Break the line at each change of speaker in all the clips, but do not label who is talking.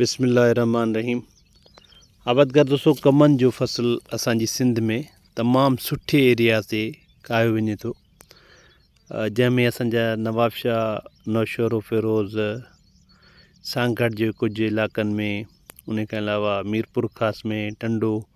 بسم الله الرحمٰن الرحيم عابد گھر دوستو ڪمن جو فصل اسان جي سنڌ ۾ تمام سٺي ايرياز تي ڪاهيو وڃي ٿو جنهن ۾ اسان جا نوابشاهه نوشهرو فيروز سانگھڙ جي ڪجهه علائقن ۾ ان کان علاوه ميرپور خاص ۾ ٽنڊو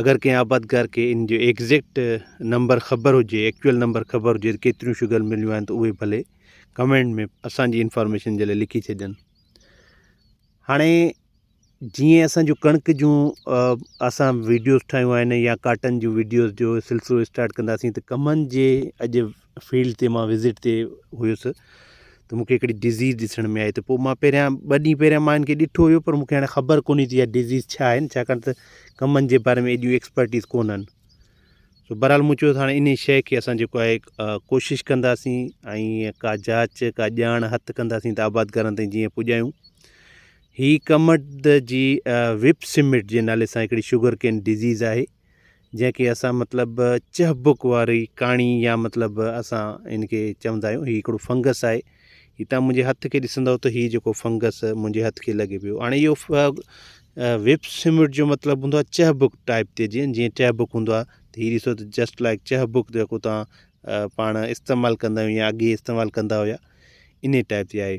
اگر ڪنهن آبادگار کي ان جو ايگزيڪٽ نمبر خبر هجي ايڪچوئل نمبر خبر هجي ڪيتريون شگر مليون آهن ته اهي ڀلي ڪمينٽ ۾ اسانجي انفارميشن جي لاء لکي ڇڏين هاڻي جيئن اسان جو ڪڻڪ جون اسان ويڊيوز ٺاهيون آهن يا ڪاٽن جون ويڊيوز جو سلسلو اسٽارٽ ڪنداسين ته ڪمن جي اڄ فيلڊ تي مان وزٽ تي هيس ته مونکي هڪڙي ڊزيز ڏسڻ ۾ آئي ته پوء مان پهريان ٻه ڏينهن پهريان مان هنکي ڏٺو هيو پر مونکي هاڻي خبر ڪونهي ته اها ڊزيز ڇا آهن ڇاڪاڻ ته ڪمن جي باري ۾ ايڏيون ايڪسپرٽيز ڪونهن سو بهرحال مون چيو ته هاڻي انهي شيء کي اسان جيڪو آهي ڪوشش ڪنداسين ۽ ڪا جاچ ڪا ڄاڻ هٿ ڪنداسين ته آبادگارن تائين جيئن پڄايون هي ڪمٽ جي وپ سمٽ جي نالي سان هڪڙي شوگر ڪين ڊزيز آهي جنهن کي اسان مطلب چهبڪ واري ڪاڻي يا مطلب اسان ان کي چوندا آهيون هي هڪڙو فنگس آهي هي تان منهنجي هٿ کي ڏسندو ته هي جيڪو فنگس منهنجي هٿ کي لڳي پيو هاڻي اهو ويب سمٽ جو مطلب هوندو آهي چهبڪ ٽائپ تي جيئن جيئن چهبڪ هوندو آهي ته هي ڏسو ته جسٽ لائڪ چهبڪ جيڪو تان پاڻ استعمال ڪندا آهيون يا اڳي استعمال ڪندا هيا انهي ٽائپ جي آهي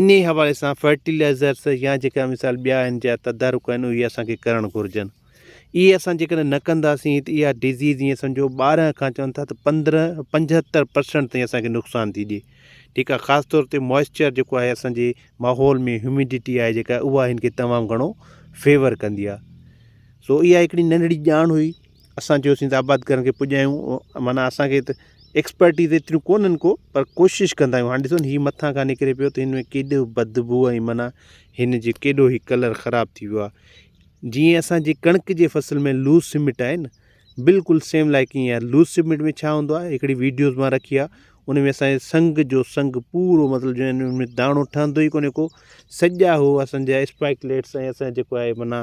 انهيء حوالي سان فرٽيلائيزرز يا جيڪا مثال ٻيا آهن جا تدارڪ آهن اهي اسان کي ڪرڻ گهرجن. اهي اسان جيڪڏهن نه ڪنداسين ته اها ڊزيز ائين سمجهو ٻارهن کان چون ٿا ته پندرهن پنجهتر پرسنٽ تائين اسان کي نقصان ٿي ڏئي. ٺيڪ آهي خاص طور تي موئسچر جيڪو آهي اسان جي ماحول ۾ هيوميڊٽي آهي جيڪا اها هن کي تمام گهڻو فيور ڪندي آهي. سو اها هڪڙي ننڍڙي ڄاڻ هئي. اسان چيوسين ته آبادگارن کي پڄايون معنيٰ اسان کي ته ايڪسپرٽيز ايتريون ڪونهن ڪو پر ڪوشش ڪندا آهيون هاڻي ڏسو هي مٿان کان نڪري پيو ته هن ۾ ڪيڏو بدبوء ۽ معنيٰ هن جي ڪيڏو هي ڪلر خراب ٿي ويو آهي جيئن اسانجي ڪڻڪ جي فصل ۾ لوز سمٽ آهي نه بلڪل سيم لائڪ ايئن آهي لوز سمٽ ۾ ڇا هوندو آهي هڪڙي ويڊيوز مان رکي آهي ان ۾ اسانجي سنگ جو سنگ پورو مطلب جو ان ۾ داڻو ٺهندو ئي ڪونهي ڪو سڄا هو اسانجا اسپائڪليٽس ۽ اسان جيڪو آهي معنيٰ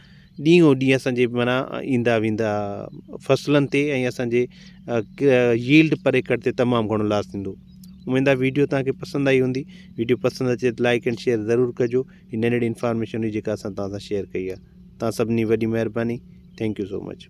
ڏينهن او ڏينهن اسان جي معنيٰ ايندا ويندا فصلن تي ۽ اسان جي ييلڊ پر ايڪڙ تي تمام گهڻو لاس ٿيندو اميد آهي ويڊيو توهان کي پسند آئي هوندي ويڊيو پسند اچي ته لائڪ اينڊ شيئر ضرور ڪجو هي ننڍڙي انفارميشن هئي جيڪا اسان توهان سان شيئر ڪئي آهي توهان سڀني وڏي مهرباني ٿينڪ يو سو مچ